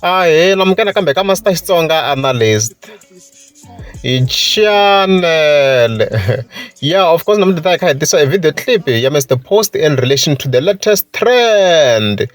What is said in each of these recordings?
a he lamukela kambe ka master xitsonga analyst hi channel yeah of course namuntlha ta hi kha hi tisa a video clip ya mr post in relation to the latest trend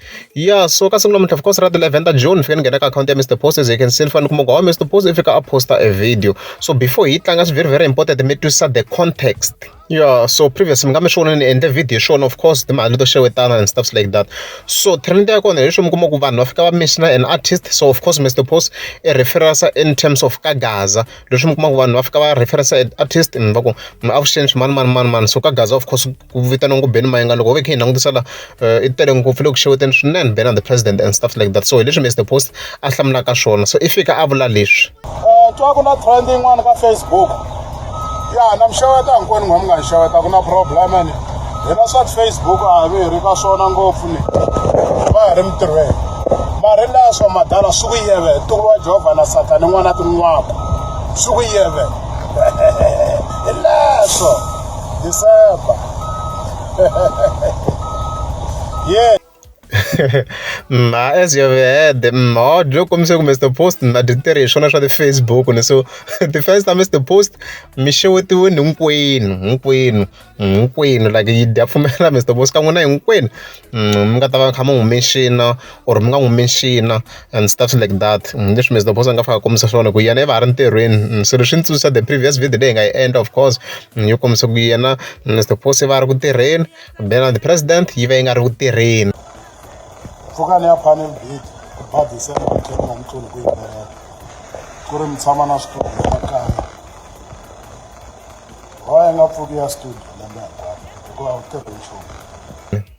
yeah so ka siku namuntlha of course ra the 11 june fika ni nghena ka akhawunti ya mr post as you can see ni fanele kuma ku mr post i fika a posta a video so before hi tlanga swi very very important mi twisisa the context Yeah, so previous mi nga mi swona ni endle video hi swona of course timali to xewetana and stuffs like that so trend ya kona hi swi mi kuma ku vanhu va fika va mishina an artist so of course mr post i referensa in terms of ka gaza leswi mi kuma ku vanhu va fika va referensa an artist mi va ku mi avuxeni swimanimani manimani so ka gaza of course ku vitaniwa ngubeni mayenga loko ho ve kha hi langutisa la uh, i tele ngopfu loko xeweteni swinene been on the president and stuff like that so hi leswi mr post a hlamulaka swona so i fika a vula leswi eh, twa ku na trend yin'wana ka facebook ya na mi xeweta hinkwenu n'wa mi nga hi xeweta ku na problem ni hina swa facebook a hi ve hi ri ka swona ngopfu ni va hi ri mitirhweni mari leswo madala swi ku yeve ntuku wa jehovha na satani n'wana tin'waka swi ku yeve hi leswo disemba yeah. ma as you had ma loko kombise ku mr post ma ti tirhi hi swona swa ti-facebook ni so ti-fans ta mr post mi xewetiwini hinkwenu hinkwenu hinkwenu like yi dya pfumela mr post ka n'wina hinkwenu mm, mi nga ta va kha mi humexina or mi nga n'wi mention and stuff like that hi leswi Mister Boss a nga fika a kombisa swona ku yena i va a ri ntirhweni so leswi ndzi tsundzuxa the previous video leyi hi nga yi endla of course yo kombisa ku yena Mister Boss i va a ri ku tirheni then the president yi va yi nga ri ku tirheni pfukani ya panel beat ku ba December ku tlhela ni tluli ku yimbela ku ri mi tshama na switolo swa kaya why nga pfuki ya studio lembe hinkwaro hikuva u tirhi nchumu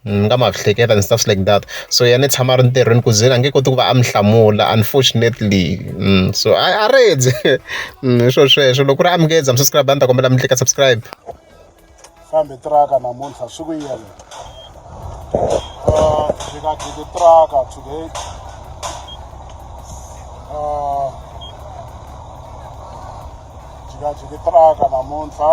Ni nga ma hleketa and stuff like that. So yena i tshama a ri ntirhweni ku ze a nge koti ku va a n'wi hlamula unfortunately. So a a rindze hi swona sweswo loko ku ri Amgeza mi subscribe a ndzi ta kombela mi tlika subscribe. Kambe tiraka namuntlha swi ku yini? Jikajiki tiraka today. Jikajiki tiraka namuntlha.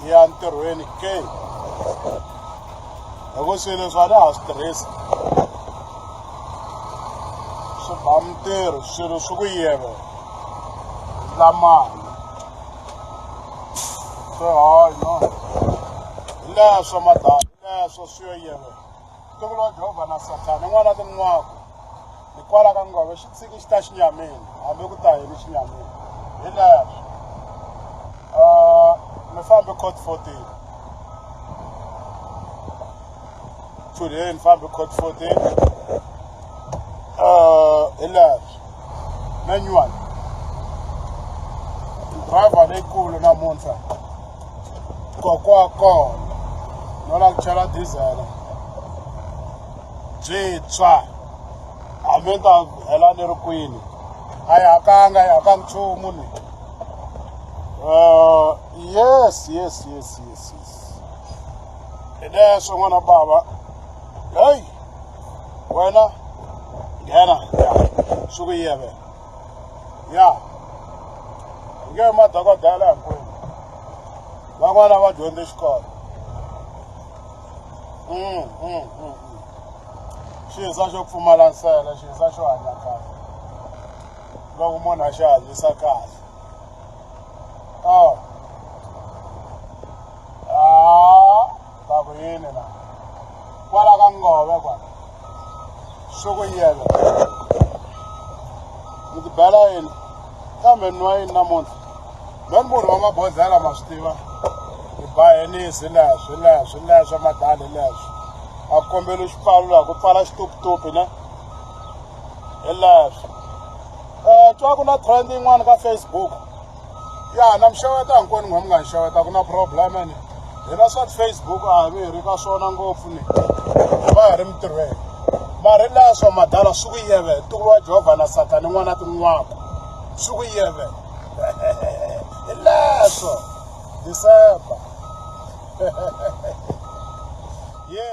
hi ya ntirhweni ke loko swilo leswi a ni ha swi tirhisi swi ba mintirho swilo swi ku yeve lamali swi hanya hi leswo madala hi leswo swi yo yeve Ntokoto wa Jehovha na Sathana i n'wana tin'waku. Hikwalaho ka ngove xi tshiki xi ta xinyamini, hambi ku ta yini xinyamini. Hi leswi mi fambe court 14 chudeni fambe court 14 hi leswi manual driver leyikulu namuntlha kokwakoho no lava ku chela dizele byintshwa hambi ni ta hela ni ri kwini a yi hakanga yi haka nchumu ni um yes yes yes yes yes hi leswo n'wana bava heyi wena nghena ya swi ku yeve ya hi nge madokodela hinkwenu van'wana va dyondze xikolo mm, mm, mm, xiza xo pfumala nsele xiza xo hanya kahle loko munhu a xi hanyisa kahle Bakuyini la? Kwala ka ngove kwala. Shuku yelo. Mi ti bela yini? Kambe nwa yini namuntlha? Lweni munhu wa mabodhlela ma swi tiva. Hi ba henisi leswi leswi leswi madali leswi. A ku kombeli xipfalo laha ku pfala xituputupi ne. Hi leswi. Eh twa ku na trend yin'wana ka Facebook. ya na mi xeweta hinkwenu n'wa mi nga hi xeweta ku na problem ene hina swa ti-facebook a hi ve hi ri ka swona ngopfu ni hi va hi ri mintirhweni mari laha swa madala swi ku yeve ntuku wa jehovha na sathane n'wana tin'waka swi ku yeve hi leswo december yeah